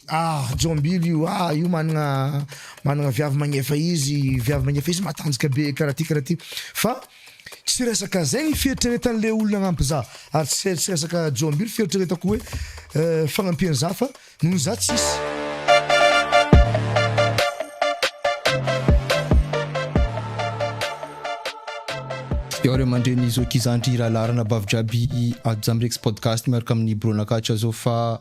Ah jombilo io ah io managna managna viavy magnefa izy viavy magnefa izy matanjaka be karaha ty karaha ty fa tsy resaka zay ny fieritreretan le olona agnampy za ary tsy tsy resaka jombilo fieritreretako hoe fagnampian za fa noho za tsisy. Iao ry aman-dreny zoky zandry rahalahy ranabavy jiaby ato Jamrex podcast miaraka amin'ny Bro Nakatra zao fa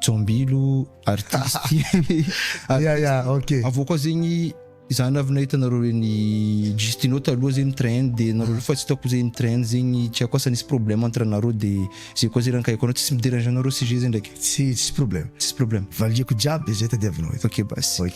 Jambilo artiste. Ya ya ok. Avy eo koa zegny za navy nahita nareo reny Justino taloha zay nitrend de nareo refa tsy hitako zay nitrend zegny tsy haiko asa nisy problème entre anareo de zay koa zay raha nikaiko anao tsisy mi-derange anareo sujet zay ndraiky. Tsy tsisy problème. Tsisy problème. Valiako jiaby zay tadiavinao eto. Ok basy.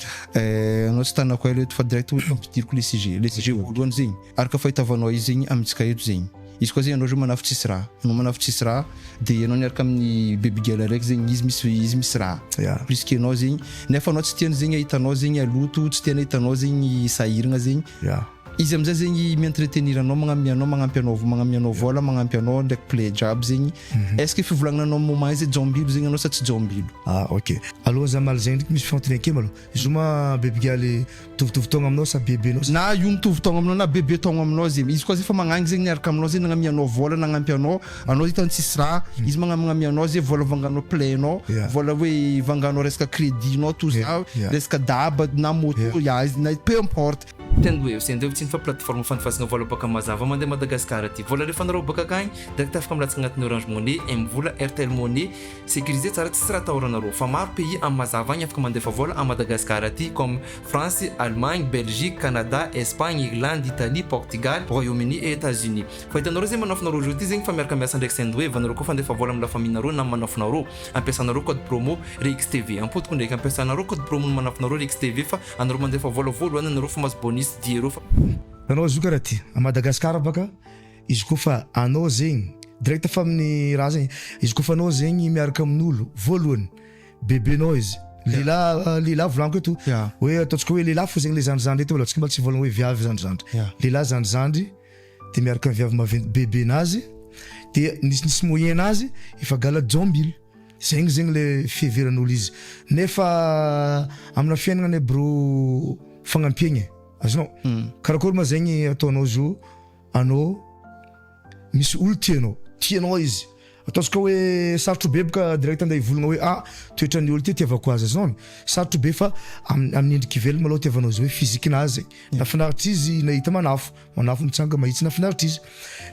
Anao tsy tanako ela eto fa direct hoe ampidiriko le sujet. Le sujet voalohany zegny. Ary ka fahitavano ahy zegny amintsika eto zegny izy koa zegny anao zao manafo tsisy raha anao manafo tsisy raha de anao niaraka amin'ny baby girl araiky zegny izy misy izy misy raha ya plus que anao zegny nefa anao tsy tiany zegny ahita anao zegny haloto tsy tiany ahita anao zegny sahiragna zegny ya izy amizay zegny mi entretenir anao magnamia anao magnampy anao vao magnamia anao vôla magnampy anao ndraiky play jiaby zegny est ce que fivolagnana anao moment izay jaombilo zegny anao sa tsy jaombilo ah ok alohan'ny za mamaly zegny ndreky misy fanontanian-keo malôha. Zoma bebigaly mitovitovy taogna aminao sa bebenao. Na io mitovy taogna aminao na bebe taogna aminao zegny izy koa zay fa magnangy zegny miaraka aminao zay nagnamia anao vôla nagnampi anao anao hitany tsisy raha izy magnamagnamia anao zay vôla vanganao plein nao vôla hoe vanganao resaka crédit nao toa za resaka daba na moto ya izy na peu importe. Tena hoe eo sendra eo tsy ny fa plateforme fandefasana vôla bôka mazava mandeha Madagascar aty vôla alefanareo bôka akagny direct afaka milatsaka agnatin'ny orange money, M-vola, Airtel money, Sécurisé tsara tsisy raha atahorana rô fa maro pays am mazava agny afaka mandefa vôla am Madagascar aty comme France, Allemagne, Belgique, Canada, Espagne, Irlande, Italie, Portugal, Royaume Uni et Etats Unis fa hitanareo zegny manafinareo reo ty zegny fa miaraka miasa ndraiky sendwave anareo koa fandefa vôla am la famille nareo nam manafinareo ampiasanareo code promo rixtv ampodiko ndraiky ampiasanareo code promo ny manafinareo rixtv fa anareo mandefa vôla vôloany anareo fa mazo bonus diero fa Nanao azoka raha ty. A Madagascar baka. Izy koa fa anao zegny direct fa amin'ny raha zegny, izy koa fa anao zegny miaraka amin'olo, voalohany bebenao izy, lehilahy lehilahy volaniko eto hoe ataontsika hoe lehilahy fo zegny le zandrizandry eto aloha, tsy mbola tsy voalaza hoe viavy zandrizandry, lehilahy zandrizandry de miaraka amin'ny viavy maventy bebenazy de nisinisy moyen-nazy efa gala jaombily, zegny zegny le fiheveran'olo izy nefa amina fiainagna anie broo fagnampiagna e, azonao? Karakory ma zegny ataonao zo. Anao misy olo tia anao, tia anao izy, ataontsika hoe sarotro be boka direct ande hivolagna hoe ah toetran'ny olo ty tiavako azy zao an, sarotro be fa am- amin'ny endriky ivelany malao tiavanao izy hoe physique-nazy, nafinaritrizzy nahita manafo, manafo mitsanga mahitsy nafinaritrizzy,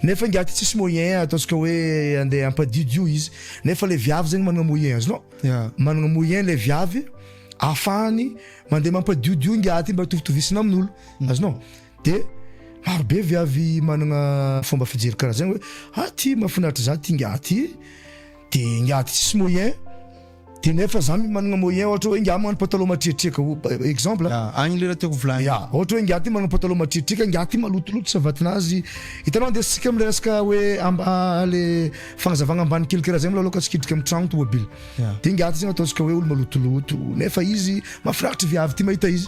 nefa ingahy ty tsisy moyen ataontsika hoe ande hampadidy io izy, nefa le viavy zegny managna moyen azonao, Ya. managna moyen le viavy ahafahany mande mampadiody io ingahy ty mba hitovitovisana amin'olo, azonao. De maro be viavy managna fomba fijery karaha zagny hoe ah ty mafinaritra za ty ingahy ty de ingahy ty tsisy moyen de nefa za managna moyen ohatra hoe ingahy managna pataloha matriatriaka o- exemple a, agny le raha tiako hovolagny. Ya, ohatra hoe ingahy ty managna pataloha matriatriaka, ingahy ty malotoloto savatinazy, hitanao ndeha sika amle resaka hoe amba le fagnazavagna ambany kely karaha zay molo aloha ka tsy hidrika am tragno tomobily, de ingahy ty zany ataontsika hoe olo malotoloto nefa izy mafinaritra viavy ty mahita izy.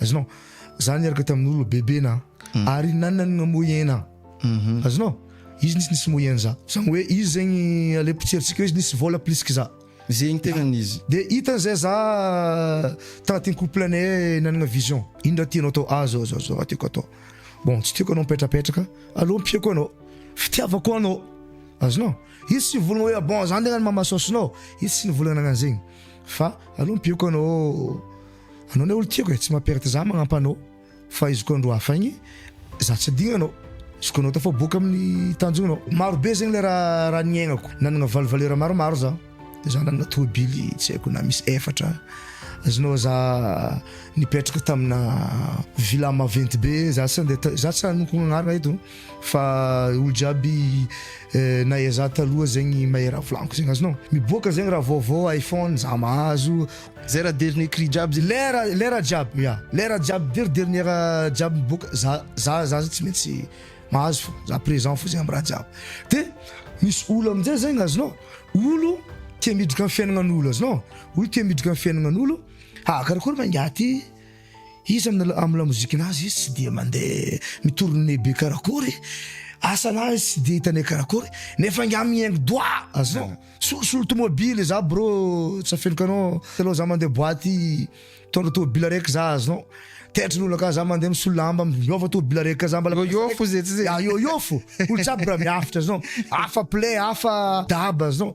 Azonao? Za niaraka tamin'olo bebe na ary nanagna moyen a. Azonao? Izy nisy nisy moyen za. Zany hoe izy zegny ale potserintsika hoe izy nisy vôla plus que za. Zegny tegnany izy. De hitany zay za tagnatin'ny couple-nay nanagna vision. Ino raha tianao atao? Ah zao zao zao raha tiako atao. Bon, tsy tiako anao mipetrapetraka, aleo ampiako anao. Fitiavako anao. Azonao? Izy tsy nivolagna hoe bon za ndeha agnano mamasaosinao. Izy tsy nivolagna nagnano zegny. Fa aleo ampiako anao. Anao ne olo tiako e tsy ma perte za magnampa anao fa izy koa andro hafa igny za tsy digna anao izy koa anao tafaboaka amin'ny tanjognao maro be zegny le raha raha niaignako nanagna valo valeur maromaro za de za nanagna tôbily tsy haiko na misy efatra azonao za nipetraka tamina villa maventy be za tsy nde za tsy hanonkogna agnarana eto. Fa olo jiaby nahay za taloha zegny mahay raha volaniko zegny azonao miboaka zegny raha vaovao iPhone za mahazo zay raha dernier cri jiaby zegny lera lera jiaby ya lera jiaby der dernier jiaby miboaka za za za tsy maintsy mahazo fo za present fo zegny am raha jiaby de misy olo amizay zegny azonao olo tia miditra am fiainagnanolo azonao olo tia miditra am fiainagnanolo ha karakory ma ingahy ty. Iza no nanao amin'ny lamozikina azy izy tsy dia mandeha mi-tourner be karakory, asana izy tsy dia hitanay karakory, nefa ingahy mihaingo doha azao, solosolo tomobily za bro tsy afeniko anao, taloha za mandeha boite mitondra tomobily araiky za azonao, taitry ny olona ka za mandeha misolo lamba miova tomobily araiky ka za mbola Yo yo fo ze tsy ze. Ya yo yo fo, olo jiaby raha miafitra azonao, hafa plein hafa daba azonao.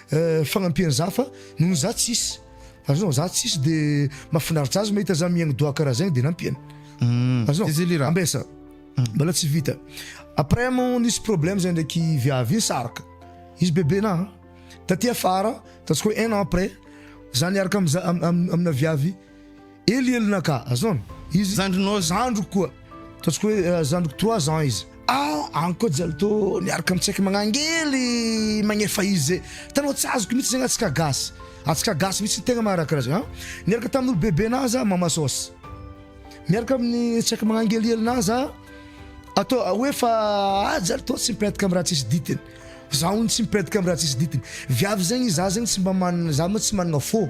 fagnampian'za fa noho za tsisy azonao za tsisy de mafinaritra azy mahita za mihaigny doha karaha zegny de nampiany hmm. azonao ambesa hmm. mbola tsy vita après mo nisy problème zay ndraiky viavy iny saraka izy bebe na taty afara ataontsika hoe un an après za niaraka amza amina viavy Ely ely naka azony izy zandrinao zandriko koa ataontsika hoe zandriko trois ans izy ah any koa jalo to miaraka mitsaika magnangely magnefa izy zay hitanao tsy azoko mitsy zany atsika gasy atsika gasy mitsy tegna maha raha karaha zay an niaraka tamin'ny olo bebe naha za mama sos miaraka amin'ny tsaika magnangeliely naha za atao hoe fa ah jalo to tsy mipetaka amin'ny raha tsisy dintiny za hono tsy mipetaka amin'ny raha tsisy dintiny viavy zegny za zegny tsy mba manana za moa tsy manana fo.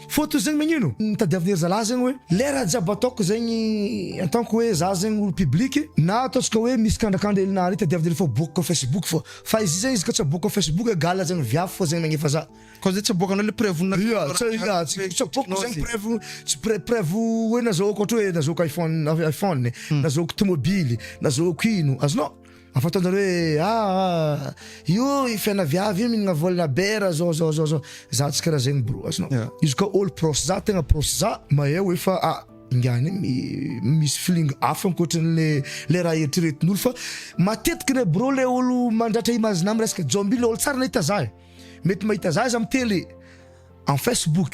Fa toy zegny magnino ny tadiavin'ny ry zalahy zegny hoe lera jiaby ataoko zegny en tant que hoe za zegny olo public na ataontsika hoe misy kandrakandra hely nahare tadiaviny hely fa aboakako facebook fô fa izy zegny izy ka tsy aboakako facebook egal zegny viavy fô zegny nagnefa za Koa zay tsy aboakanao le preuve na Ia tsy ia tsy tsy aboakako zegny preuve tsy pre- preuve hoe nazahoako ohatra hoe nazahoako iphone iphone nazahoako tomobily nazahoako ino azonao? Fa fataonjareo hoe aa io fiaina viavy io minagna volana be ra zao zao zao zao za tsy kara zegny bro azonao Yeah. izy koa olo proche za tegna proche za mahay hoe fa a ingahy anie mi- misy feeling hafa ankoatranle le raha eritreretin'olo fa matetiky le bro le olo mandratra image na miresaka jomby le olo tsara nahita za e mety mahita za izy am tele am facebook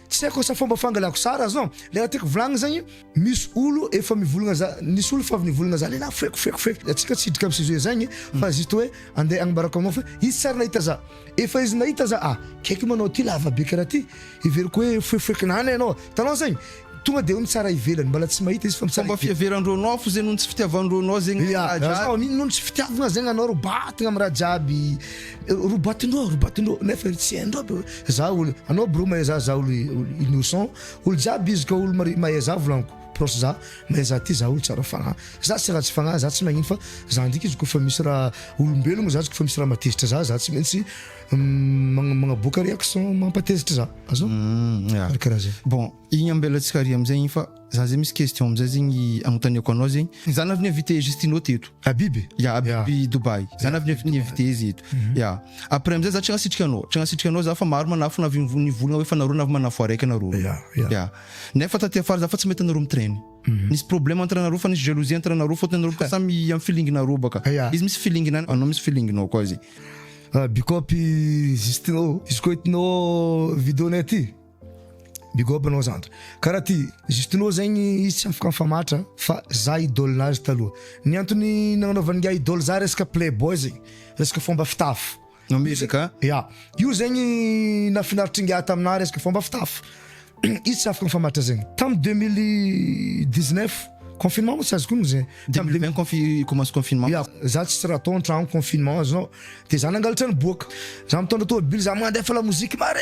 Tsy aiko asa fomba fangalako sary aza an! Le raha tiako volagny zagny, misy olo efa mivolagna za, nisy olo efa avy nivolagna za lelah foeko foeko foeko, de antsika tsy hidrika am sujet zagny fa juste hoe ande agnambarako agnao fa izy tsy ary nahita za, efa izy nahita za ah! kaiky moa anao ty lava be karaha ty, heveriko hoe foefoekin'anana ianao, hitanao zagny? tonga de eo ny tsara ivelany, mbala tsy mahita izy fa ny tsara ivelany. Fomba fiheveran-droa anao fo zay noho ny tsy fitiavan-droa anao zegny raha jiaby. Amin'iny noho ny tsy fitiavagna zegny anao ro batagna am raha jiaby Robatinao robatinao nefa izy tsy hainao be hoe za olo anao bro mahay za za olo innocent olo jiaby izy ka olo mari- mahay za volaniko proche za mahay za ty za olo tsara fagnahy za tsy ratsy fagnahy za tsy magnino fa za ndraiky izy kôfa misy raha olombelogno za izy kôfa misy raha mahatezitra za za tsy maintsy magn- magnaboaka réaction mampatezitra za azoo karakaraha zay. Igny ambela tsy kary amizay igny fa za zay misy question amizay zegny agnotaniako anao zegny. Za navy ni-inviter Justino teto. Habib? Ya, Habib Dubai. Za navy ni-inviter izy eto. Ya. Après amizay za tsy nagnasitrika anao, tsy nagnasitrika anao za fa maro manafona avy nivolagna hoe fa nareo navy manafo araiky nareo. Ya, ya. Ya. Nefa taty afara za fa tsy mahita anareo mi-traine. Nisy problème entre anareo fa nisy jalousie entre anareo fôtony anareo bôka samy am feeling nareo bôka. Ya. Izy misy feeling-nany, anao misy feeling-nao koa zegny. Bikôpy Justino, izy koa hitanao vidéo-nay ty, Big up anao zandry. Karaha ty juste nao zegny izy tsy afaka mifamatra fa za idole nazy taloha. Ny antony nagnanaovany ingahy idole za resaka play boy zegny, resaka fomba fitafy. Namezaka a? Ya, io zegny nafinaritr'ingahy taminah resaka fomba fitafy. Izy tsy afaka mifamatra zegny. Tam deux mille dix neuf, confinement moa tsy azoko onony ze. Tam deux mille vingt confi- commence confinement. Ya, za tsisy raha atao antragno confinement azonao, de za nangalatra niboaka. Za mitondra tômôbily za mandefa lamoziky mare.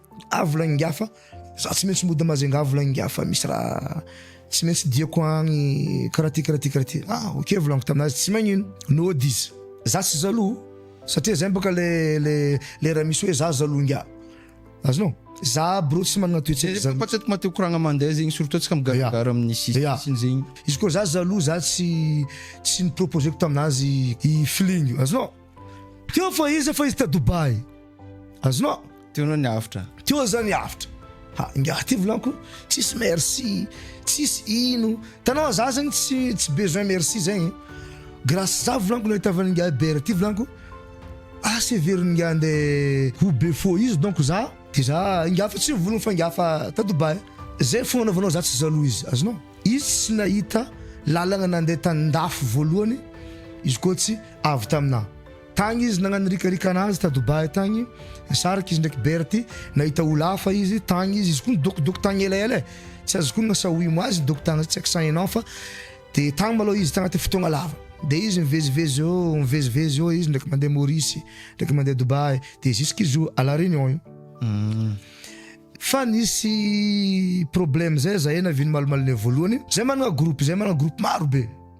Avo laingafa, za tsy maintsy mody Majunga avo laingafa misy raha tsy maintsy diako agny karaha ty karaha ty karaha ty, ah ok volaniko taminazy tsy magnino nody izy. Za tsy jaloux satria zay bôka le le le raha misy hoe za jaloux ngiahy azonao? Za aby reo tsy managna toetsaiko jaloux. Fa tsy atiko maty mikoragna mandeha zegny surtout atsika migaragara amin'ny sisiny Ya, sisiny zegny. izy koa za jaloux za tsy tsy ni-proposer-ko taminazy i feeling io azonao? Teo fa izy fa izy ta Dubaï. Azonao? Teo anao ny avotra. Teo aho zany avotra. Ha, ingahy ty volanko, tsisy merci, tsisy ino. Hitanao a, za zany tsy tsy besoin merci zay e. Grâce za volanko no ahitavan'ingahy Bert ty volanko, asa heverin'ingahy andeha ho be fo izy donc za de za ingahy fa tsy volana fa ingahy fa ta Dubaï. Zay fo anaovanao za tsy jaloux izy, azonao? Izy tsy nahita lalagna nandeha tan-dafy voalohany, izy koa tsy avy taminah. Tagny izy nagnanirikarika anazy ta Dubai tagny, nisaraka izy ndraiky Berty, nahita olo hafa izy, tagny izy, izy koa nidokidoky tagny elaela e, tsy azoko onogna sa oui moa azy nidoky tagny tsy accent enao fa, de tagny malôha izy tagnaty fotoagna lava, de izy mivezivezy eo mivezivezy eo izy ndraiky mandeha Maurice, ndraiky mandeha Dubai, de jusqu'à izy io à la Réunion io. Fa nisy problème zay zahay navy nimalomalogne voalohany, zahay managna groupe, zahay managna groupe maro be,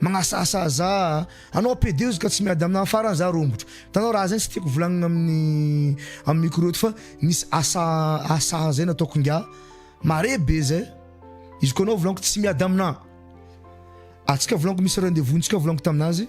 Magnasasa za anao pede ozy ka tsy miady amina farany za rombotro hitanao raha zay tsy tiako volagnina amin'ny amin'ny micro eto fa misy asa asa zay nataoko ingahy mare be zay izy koa anao volaniko tsy miady amina atsika volaniko misy rendez-vous ntsika volaniko taminazy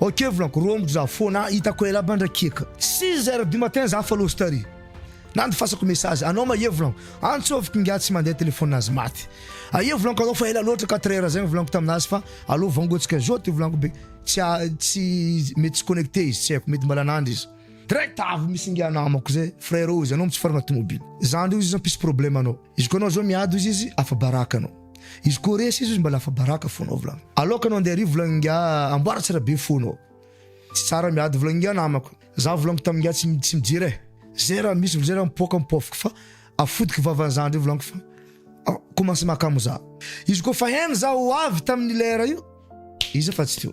Ok volako romoko za fona itako ela ba ndray kieka. Six heures du matin za fa lost ary nandefasako message anao ma ye volanko antsoviko ingahy tsy mandeha telephone nazy maty a ye volanko anao fa ela loatra quatre heures zegny volanko taminazy fa alou vangotsika zao ty volanko be tsy a tsy mety tsy connecte izy tsy aiko mety mbala nandry izy direct avy misy ingahy namako zay frère ozy anao mitsofarana tomobile zandry ozy izy mpisy problème anao izy ko anao zao miady ozy izy afa baraka anao. Izy ko resy izy mba lafa baraka fona volagny. Alou ka anao andeha ary volagny ingahy amboara tsara be fo anao. Tsy tsara miady volagny ingahy namako. Za volagny tam ingahy tsy tsy mijery eh. Zay raha misy vao zay raha mipoaka mipoafiko fa afodiky vavan'i za ndray volagny fa a commence mahakamo za. Izy ko fa hen za ho avy taminy lera io iza fa tsy teo.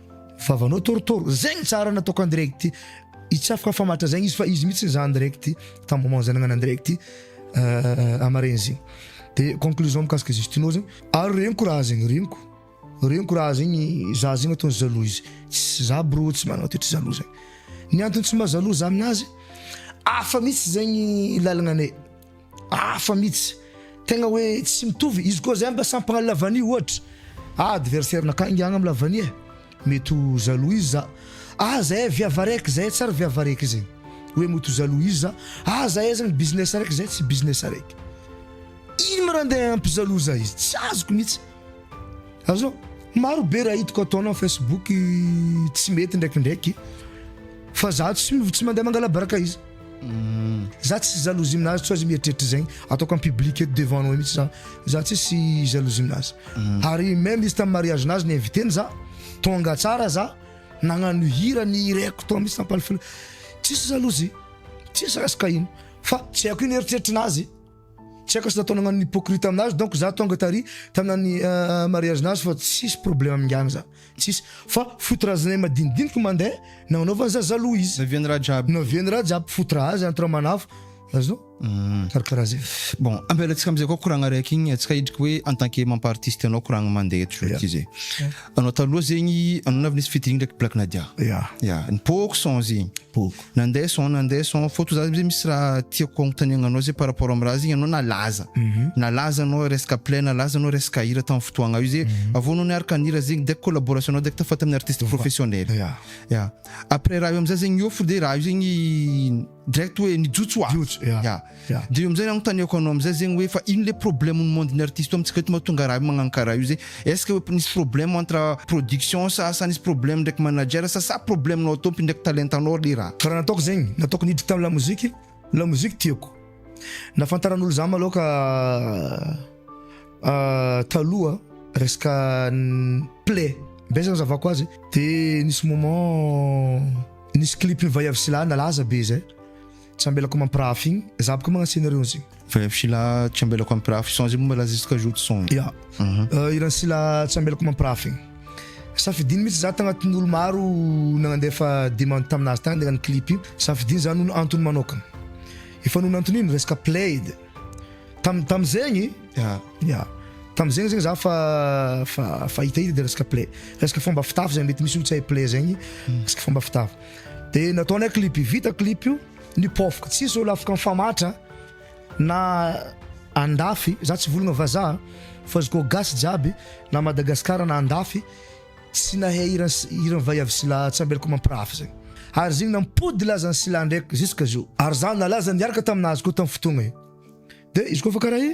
Vavanao torotoro. Zay ny tsara nataoko an direct hitsafoka fa matra zegny izy fa izy mitsy za an direct tam moment zay nagnana an direct amaregny zegny de conclusion mikasika ze stinô zegny ary regniko raha zegny regniko regniko raha zegny za zegny ataony jaloux izy tsy za brô tsy managna toetry jaloux zegny ny antony tsy mba jaloux za aminazy afa mitsy zegny lalagna anay Hafa mihitsy. Tegna hoe tsy mitovy. Izy koa zay mba sampy magnano la vanille ohatra. Ah adversaire nakah ingahy agnam la vanille eh. Mety ho jaloux izy za. Ah zahay viavy araiky, zahay tsary viavy araiky zegny. Hoe mety ho jaloux izy za. Ah zahay zany business araiky, zahay tsy business araiky. Ino ma raha andeha hampi-jaloux za izy? Tsy azoko mihitsy. Azao, maro be raha hitako ataonao Facebook tsy mety ndraikindraiky fa za tsy tsy mandeha mangalabaraka izy mm. za tsy jalousie aminazy tsy azy mieritreritra zegny ataoko en public eto devant anao mihitsy za za tsy sy jalousie aminazy mm. ary même izy tamin'ny mariage nazy ny invité-ny za tonga tsara za nagnano hira ny hireko tao mihitsy tampalifila tsisy jalousie tsisy raha sy kahina fa tsy haiko ino eritreritry nazy Tsy haiko zah tao nagnano hypocrite aminazy donc zah tonga tary tamina ny mariage nazy fa tsisy problème amin'ingahy zah tsisy fa foot raha zinay madinidiniky mandeha nagnanaovany zah jaloux izy Naviany raha jiaby. naviany raha jiaby foot raha azy entre manafo azonao mm. karakaraha zay bon ampialatsika amizay koa koragna araiky igny atsika hidriky hoe en tant que mampa artiste anao koragna mandeha eto yeah. zay anao taloha zegny anao navy nisy featuring ndraiky Black Nadia yeah. yeah. nipoko son zegny poko Nandeha son nandeha son fô toa za amzay misy raha tiako agnontaniagna anao zay par rapport am raha zegny anao nalaza nalaza anao resaka play nalaza anao resaka hira tam fotoagna io zay avô anao niaraka nihira zegny direct collaboration nao direct fa tamin'ny artiste professionnel ya après raha io amzay zegny miôfo de raha io zegny direct hoe nijotso oazy ya. Dia eo amizay anontaniako anao amizay zegny hoe fa ino le problème ny monde ny artiste amitsika eto mahatonga raha io magnano karaha io zay? Est-ce que hoe nisy problème entre production sa sa nisy problème ndraiky manager sa sa problème nao tompy ndraiky talentanao le raha? Ka raha nataoko zegny, nataoko niditra tam lamoziky, lamoziky tiako. Nafantaran'olo za malôha ka taloha resaka play be zany nazavako azy de nisy moment nisy clip ny vaiavy sy lahy nalaza be zay. Tsy ambelako mampirafy igny, za bôka magnano scenario an'zio. Veuve Sila tsy ambelako mampirafy son zegny mbola jusqu'à jour son. Ya, hiran'i Sila tsy ambelako mampirafy igny. Safidiny mihitsy za tagnatin'ny olo maro nagnandefa demande taminazy tagny nagnano clip io, safidiny za noho ny antony manokana. Efa noho ny antony ino? Resaka played. Tam- tam'zegny, ya, tam'zegny zegny za fa fa fa hitahita de resaka play. Resaka fômba fitafy zay mety misy olo tsy hahay play zegny, resaka fômba fitafy. Dia nataony a clip vita clip io ny pauvre tsy hisy olo afaka mifamatra na andafy za tsy volagna vazaha fa izy koa gasy jiaby na Madagascar na andafy tsy nahay hira hiran'i Vaiavy Sila tsy ambelako mampirafy zegny ary zegny nampody lazan'i Sila ndraiky jusque zao ary za nalaza niaraka taminazy koa tam fotoagna io de izy koa fa karaha i.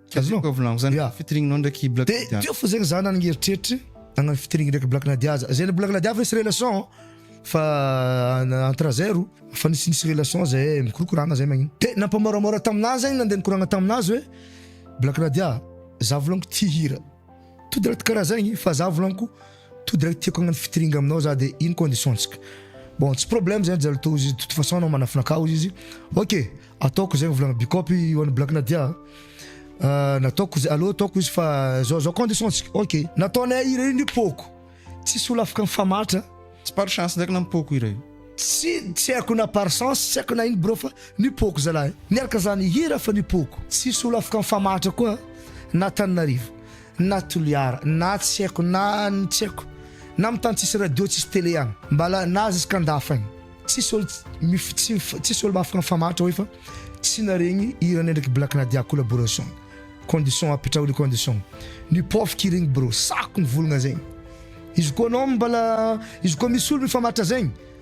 Azoko avy lango zany yeah. featuring nao ndraiky Black Nadia. Dia teo fo zegny za nanagny eritreritry nagnano featuring ndraiky Black Nadia za. Zay le Black Nadia fa nisy relation fa entre zay ro fa nisy nisy relation zay mikorokorana zay magnino. Dia nampamoramora taminah zegny nandeha nikoragna taminazy hoe Black Nadia za volagniko ty hira. To de raha karaha zegny fa za volagniko To direct tiako hagnano featuring aminao za de ino condition ntsika? Bon tsy problème zegny Jalo to izy de toute façon anao manafina akao izy ok ataoko zegny volagna Bicop i one black Nadia ah, nataoko ze- aleo ataoko izy fa zao zao condition ntsika ok. Nataonay hira io ny poko tsisy olo afaka mifamatra. Tsy par chance ndraiky na ny poko hira io. Tsy tsy haiko na par chance tsy haiko na ino bro fa ny poko zalahy niaraka zany hira fa ny poko tsisy olo afaka mifamatra koa na Tananarivo na toliara na tsy haiko na ny tsy haiko na amin'ny tany tsisy radio tsisy tele any mbala na aza izy ka ndafa any tsisy ol tsisy ol mafy mifamaritra hoe fa tsy naregny hiranay ndraiky black nadia collaboration condition apetraho le condition ny pauvre qui regny bro sako ny volagna zegny izy koa anao mbala izy koa misy olo mifamaritra zegny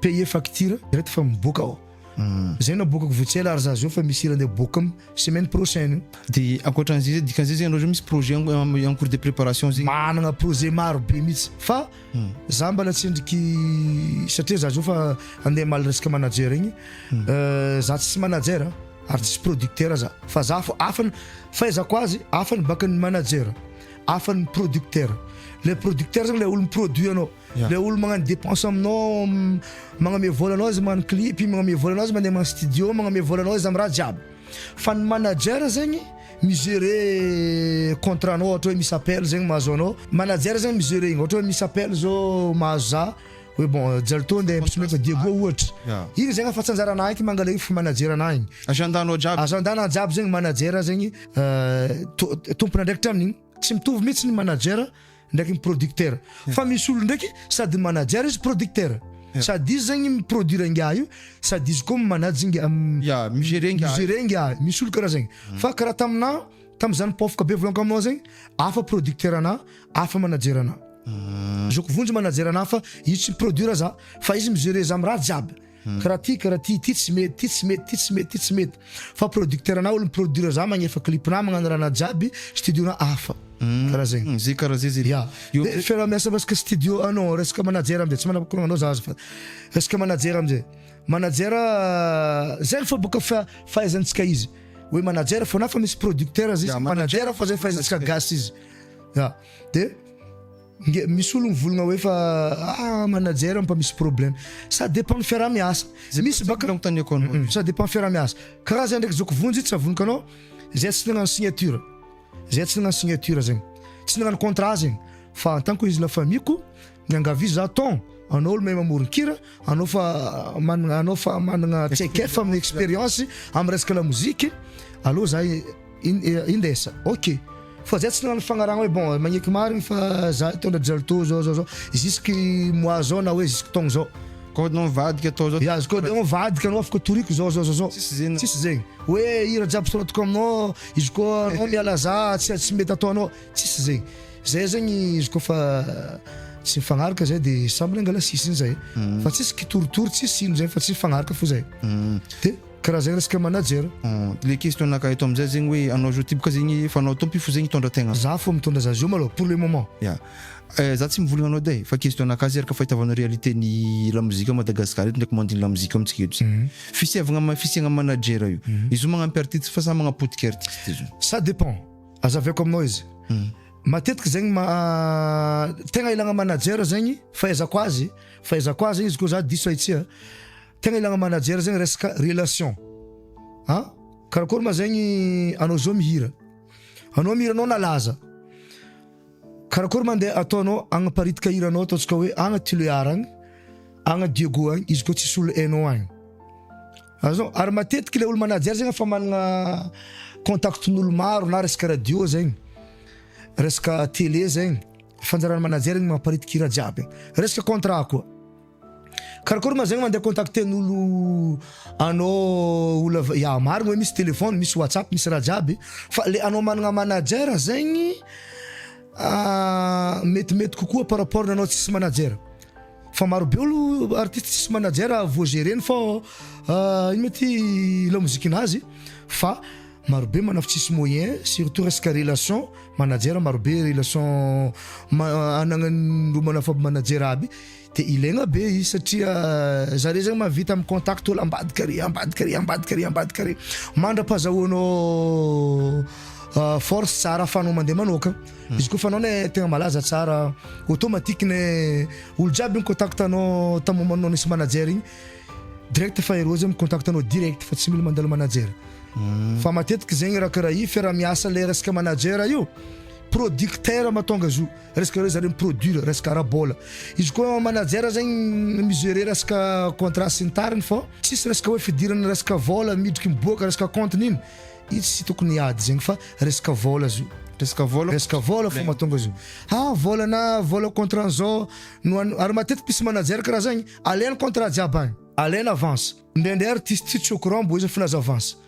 payer facture direct fa miboaka ao zay naboakako vao tsy ela ary za zao fa misy hira ndeha boaka am semaine prochaine de ankoatran'izay zay dikan'izay zay ianao zao misy projet en cours de préparation zegny managna projet maro be mihitsy fa za mbala tsendriky satria za zao fa andeha hamaly resaka manager igny za tsisy manager ary tsisy producteur za fa za fo afany fahaizako azy afany baka ny manager afany producteur le producteur zegny le olo mi-produit anao Ilay olona magnano dépense aminao, magname vola anao izy magnano clip, magname vola anao izy mandeha magnano studio, magname vola anao izy amin'ny raha jiaby. Fa ny manager zegny mi-gérer contrat anao ohatra hoe misy appel zegny mahazo anao, manager zegny mi-gérer igny, ohatra hoe misy appel zao mahazo za hoe bon Jly tô ndeha mpisometra Diego ohatra, igny zegny afa-tsy anjaranah igny mangala io fa manager anah igny. Agendanao jiaby. Agendanah jiaby zegny manager zegny to- tompon'andraikitra amin'igny. Tsy mitovy mihitsy ny manager. ndraiky ny producteur fa misy olo ndraiky sady manager izy producteur sady izy zegny mi produire ngiahy io sady izy koa manage ngiahy mi gérer ngiahy mi gérer ngiahy misy olo karaha zegny fa karaha tamina tamizany pofoka be volan-ko aminao zegny hafa producteur anah hafa manager anah zao ko vonjy manager anah fa izy tsy mi produire zah fa izy mi gérer zah am raha jiaby Kra ty kra ty, ty tsy mety, ty tsy mety, ty tsy mety, ty tsy mety. Fa producteur anao olo mi-produire za magnefa clip na magnano raha na jiaby, studio na hafa. Karaha zegny. Hum, ze karaha ze ze. Ya. De fiaraha-miasa resaka studio ah non, resaka manager amzay tsy manam-pakorogna anao za azafady. Resaka manager amzay. Manager zegny fô boka fa- fahaizantsika izy. Hoe manager fô na fa misy producteur aza izy, manager fô zay fahaizantsika gasy izy. Ya. De. Nge misy olo mivolagna hoe fa ah manager ampa misy problème ça dépend ny fiaraha miasa misy baka nanontaniako anao ça dépend ny fiaraha miasa karaha zay ndraiky zoko vonjy tsy avonoka anao zay tsy nagnano signature zay tsy nagnano signature zegny tsy nagnano contrat zegny fa en tant que izy la famille ko miangavy za ton anao olo mahay mamoron kira anao fa managna anao fa managna traikefa aminy expérience amy resaka la mozika aleo za Indesa, ok! Fa zay tsy nanano fagnarahana hoe bon magneky marigny fa za hitondra dry zao zao zao jusque mois zao na hoe jusque taogno zao, code anao mivadika atao zao, ya code anao mivadika anao afaka toriko zao zao zao, tsisy zegny, tsisy zegny hoe hira jiaby soratiko aminao izy koa anao miala za tsy tsy mety ataonao, tsisy zegny, zay zegny izy koa fa tsy mifagnaraka zay de samy mangala sisiny zay fa tsisy kitoritory tsisy ino zay fa tsy mifagnaraka fo zay de. Karazagna resaka manager. Le question naka eto amzay zegny hoe anao zao ty boka zegny efa anao tompo io fo zegny hitondra tegna. Za fô mitondra za zio malôha pour le moment. Ya. Eh za tsy mivolagna anao edy eh, fa question naka zay ary ka fahitavana réalité ny lamozika à Madagascar eto ndraiky mandry ny lamozika amintsika eto zay. Fisiavagna am fisiagna manager io. Izy io magnampy artiste fa samy magnapotika artiste izy io. Ça dépend. Azaveko aminao izy. Matetiky zegny maha tegna ilagna manager zegny fahaizako azy, fahaizako azy zegny izy kô za diso ahitsy a. Tegna ilagna manager zegny resaka relation a! Karakôry ma zegny anao zao mihira, anao mihira anao nalaza, karakôry ma ndeha ataonao agnaparitka hiranao ataontsika hoe agny Tulear agny, agny Diego agny izy koa tsisy olo hainao agny. Azon? Ary matetiky le olo manager zegny efa magnana contactn'olo maro na resaka radio zegny, resaka tele zegny, fanjaran'ny manager ny mamparitika hira jiaby, resaka contrat koa. Karakôry ma zegny mandeha contacten'olo anao olo avy, ya marigny oe misy telefôny, misy whatsapp, misy raha jiaby, fa le anao managna manager zegny metimety kokoa par rapport anao tsisy manager, fa maro be olo artiste tsisy manager vô gereny fô ino ma ty lamozikin'azy fa maro be manaf- tsisy moyen surtout resaka relation, manager maro be relation ma- anagnan'olo manafa-manager aby. Dia ilaigna be izy satria zare zany mahavita mi-contact olo ambadika ary, ambadika ary, ambadika ary, ambadika ary. Mandra-pahazahoanao force tsara ahafahanao mandeha manoaka. Izy koa fanao ne tegna malaza tsara, automatique ne olo jiaby mi-contact anao tam moment-nao nisy manager igny, direct fa ireo zay mi-contact anao direct fa tsy mila mandalo manager. Fa matetiky zegny raha karaha io fiaraha-miasa le resaka manager io, producteur mahatonga azy io. Resaka reo zareo mi-produire resaka ara-bola. Izy koa manager zegny mi-gerer resaka contrat sy ny tariny fô tsisy resaka hoe fidirana resaka vola midriky miboaka resaka compte n'ino. Io tsy tokony hiady zegny fa resaka vola izy io. Resaka vola fô. Resaka vola fô mahatonga izy io. Ha vola na vola contrat an'zao no an. Ary matetiky misy manager karaha zagny alainy contrat jiaby agny. Alainy avance. Ndraindray artiste tsy au courant mbô izy efa nilaza avance.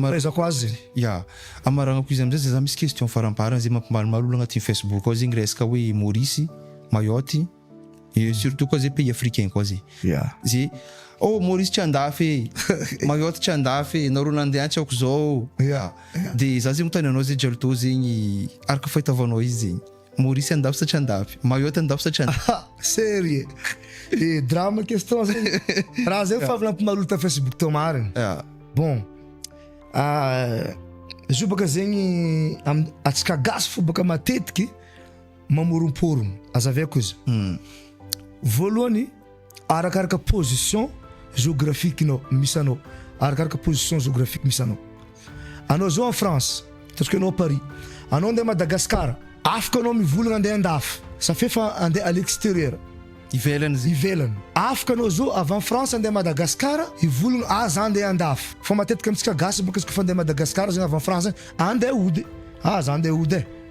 Fahaizako azy zegny. Ya, amaragnako izy amizay zay za misy question faramparany zay mampimalimaly olo agnatin'ny Facebook ao zegny resaka hoe Maurice, Mayotte, surtout koa zay pays africain koa zay. Ya. Zay oh Maurice tsy andafy e, Mayotte tsy andafy e, nareo nandeha tsy aoka zao. Ya. De za zay manontany anao zay Jalto zegny araka fahitavanao izy zegny. Maurice andafy sa tsy andafy? Mayotte andafy sa tsy andafy? Ah, serie e drama question zay raha zay fa avy nampimarolo ta facebook tao marina ah. bon ah, zo baka zegny am atsika gasy fo baka matetiky mamoromporono aza avy akoza hmm. voalohany arakaraka position géographique nao misy anao, arakaraka position géographique misy anao. Anao zao en France, ataontsika anao à Paris, anao andeha Madagascar, afaka anao mivolagna andeha andafy, ça fait fa andeha à l'extérieur, ivelany zay, ivelany, afaka anao zao avy en France andeha Madagascar hivolagna ah za andeha andafy, fa matetika amintsika gasy bôka izy kôfa andeha Madagascar zegny avy en France zegny andeha hody ah za andeha hody eh.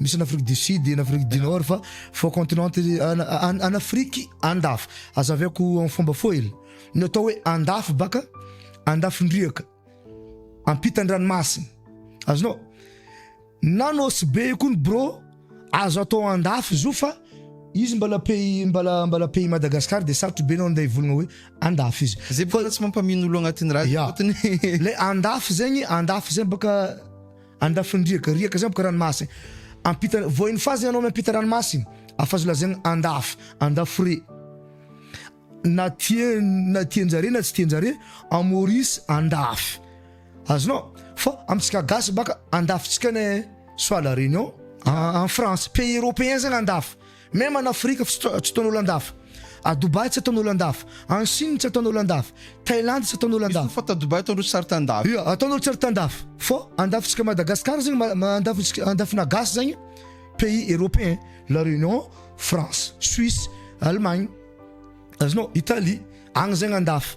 Misy any Afrique du Sud, any Afrique du Nord fa faux continent any Afrique andafy. Azaviako amin'ny fomba foil. Ny atao hoe andafy baka andafin-driaka ampitan-dranomasina. Azonao? Na ny Osibe io koa ny bro azo atao andafy izy io fa izy mbala pays mbala mbala pays Madagascar dia sarotro be nao ndeha hivolagna hoe andafy izy. Zay baka tsy mampamino olo agnatin'ny radio fotony. Le andafy zegny, andafy zegny baka Andafin-driaka, riaka zany boka ranomasina. Ampita, voahin'ny fazy ianao miampita ranomasina. Afa-zo lazaina andafy, andafy re. Na tien, na tian-jare na tsy tian-jare, en Maurice andafy. Azonao? Fa amintsika gasy baka andafintsika ny soit la réunion, en France, pays européen zany andafy. Même en Afrique tsy tsy ataon'olo andafy. A Dubaï tsy ataon'olo andafy. En Chine tsy ataon'olo andafy. Thailandy tsy ataon'olo andafy. Misy koa fa ta Dubaï ataon'olo tsy ary tandafy. Ia, ataon'olo tsy ary tandafy. Fô andafintsika Madagascar zegny ma andafintsika andafinà gasy zegny pays européen, la Réunion, France, Suisse, Allemagne, azonao, Italie, agny zegny andafy.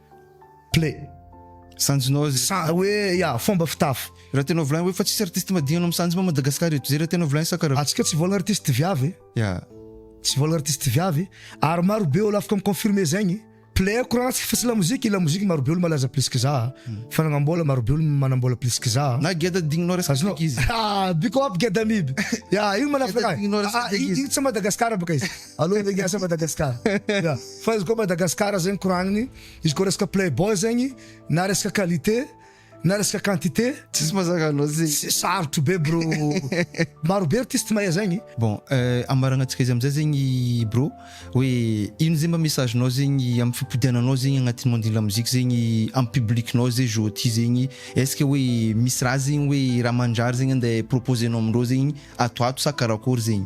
Play. Sanjinao zay. Sa hoe ya fomba fitafy. Raha tena volaina hoe fa tsisy artiste madinika hanao misanjy ma Madagascar eto. Zay raha tena volaina sa karaha. Antsika tsy vola artiste viavy e. Ya. Tsy vola artiste viavy ary maro be olo afaka mi confirmer zegny. Play a courant antsika fa tsy lamoziky e. Lamoziky maro be olo malaza plus que za. Fanagnabola maro be olo manambola plus que za. Na geda digninao resaka fika izy. Biko up geda miby. Ya io manafaka. Geda digninao resaka fika izy. Io tsy Madagascar baka izy. Allo de Gasa Madagascar. Ya. Fa izy koa Madagascar zegny koragniny, izy koa resaka playboy zegny, na resaka qualité, na resaka quantité, Tsisy mazaka an'azy. s- sarotro be bro. Maro be artiste mahay zegny. Bon, eh, ambaragnatsika izy amizay zegny bro, hoe ino zegny mba message-nao zegny amin'ny fipodiananao zegny agnatin'ny monde-n'ny lamoziky zegny amin'ny public-nao zay jour ty zegny, est-ce que hoe misy raha zegny hoe raha mandrary zegny andeha proposer-nao amindreo zegny ato ho ato sa karakory zegny?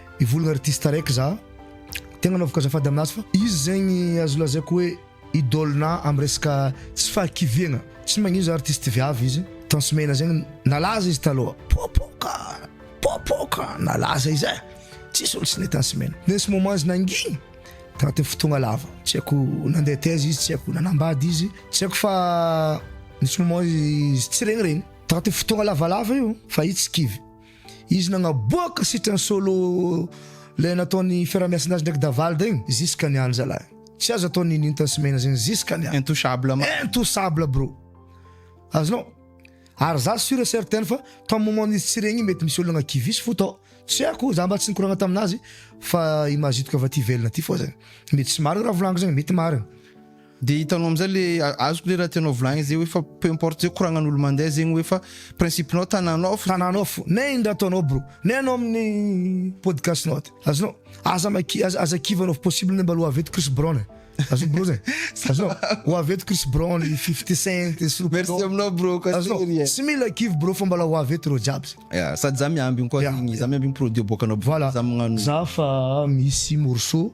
Hivolagna artiste araiky za, tegna anaovako azafady aminazy fa izy zegny azo lazaiko hoe idole-na am resaka tsy fahakiviagna, tsy magnino za artiste viavy izy Tans Mena zegny nalaza izy taloha popoka popoka nalaza izy eh tsisy olo tsy nahay Tans Mena mais ce moment izy nangina tagnatin'ny fotoagna lava tsy haiko nandeha taiza izy tsy haiko nanambady izy tsy haiko fa nisy moment izy tsy regny regny tagnatin'ny fotoagna lavalava io fa izy tsy kivy. Izy nagnaboaka sitrany solo le nataony fiarahamiasa nazy ndraiky Davald igny ziska niany zalahy tsy azo atao ny ninta sy mena zegny ziska niany intouchable ma intouchable bro azonao ary za sur et certain fa tam moment izy tsy regny mety misy olona kivisy fo tao tsy haiko za mba tsy nikoragna taminazy fa image hitako avy aty ivelany aty fô zegny mety tsy marigny raha volagniky zegny mety marigny Dia hitanao amizay le azoko le raha tianao volagnina zay hoe fa peu importe zay koragnan'olo mandeha zegny hoe fa principe nao tananao fo. Tananao fo. Nay iny raha ataonao bro. Nay anao amin'ny podcast nao aty. Azonao. Aza maki aza aza kivy anao fa possible nay mba alou avy eto Chris Brown e. Azonao bro zay. Azonao. Ho avy eto Chris Brown, Fifty Cent, Snoop Dogg. Merci aminao bro koa Azonao. Tery e. Tsy mila kivy bro fa mbala ho avy eto reo jiaby zay. Ya, sady za miambigny koa Yeah. zegny, za miambigny produit aboakanao Voilà. za magnano. Za fa misy morceau.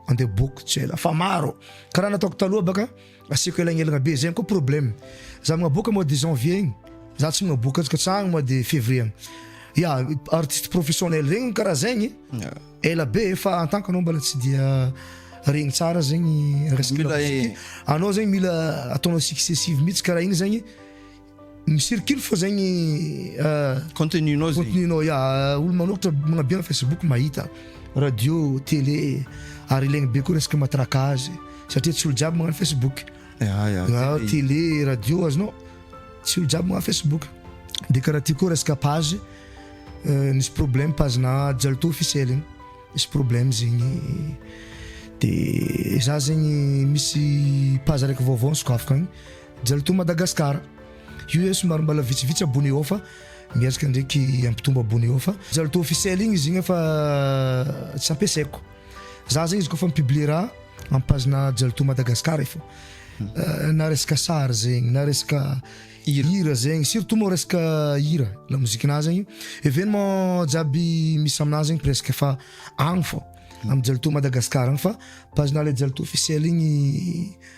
Andeha book tsy ela fa maro karaha nataoko taloha baka asiako elagnelagna be zegny koa problème za magnaboaka mois de janvier igny za tsy magnaboaka azy katsahagny mois de février agny ya artiste professionnel regny karaha zegny ela be fa en tant que anao mbala tsy dia regny tsara zegny resaka Mila e. anao zegny mila ataonao successive mihitsy karaha igny zegny Misirikily fô zegny contenu-nao zegny. Contenu-nao ya, olo manoratra magnabe am facebook mahita, radio, tele, ary ilaigny be koa resaka matraquage satria tsy olo jiaby magnano facebook, tele, radio azonao, tsy olo jiaby magnano facebook, de karaha ty koa resaka page nisy problème page-na Jalto officiel igny, nisy problème zegny de za zegny misy page araiky vaovao nisokafako agny. Jalto Madagascar. Io eh somary mbala vitsivitsy abone ao fa miezaka ndraiky hampitombo abone ao fa Jalto officiel igny izy igny fa tsy ampiasaiko. Za zegny izy kaofa mi-publier raha am page-na Jalto Madagascar eh fô. Na resaka sary zegny, na resaka hira zegny, surtout moa resaka hira, la musique-na zegny, événement jiaby misy aminaha zegny presque fa agny fô, am Jalto Madagascar agny fa page-na le Jalto officiel igny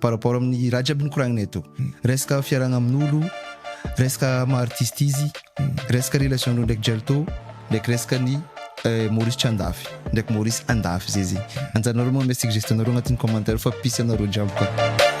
par rapport amin'ny raha jiaby nikoragnina eto, resaka fiarahana amin'olo, resaka maha artiste izy, resaka relation-dreo ndraiky Jalto, ndraiky resaka ny Maurice tsy andafy ndraiky Maurice andafy zay zegny, anjaranareo manome suggestion nareo agnatin'ny commentaire fa mpisy anareo jiaby ka.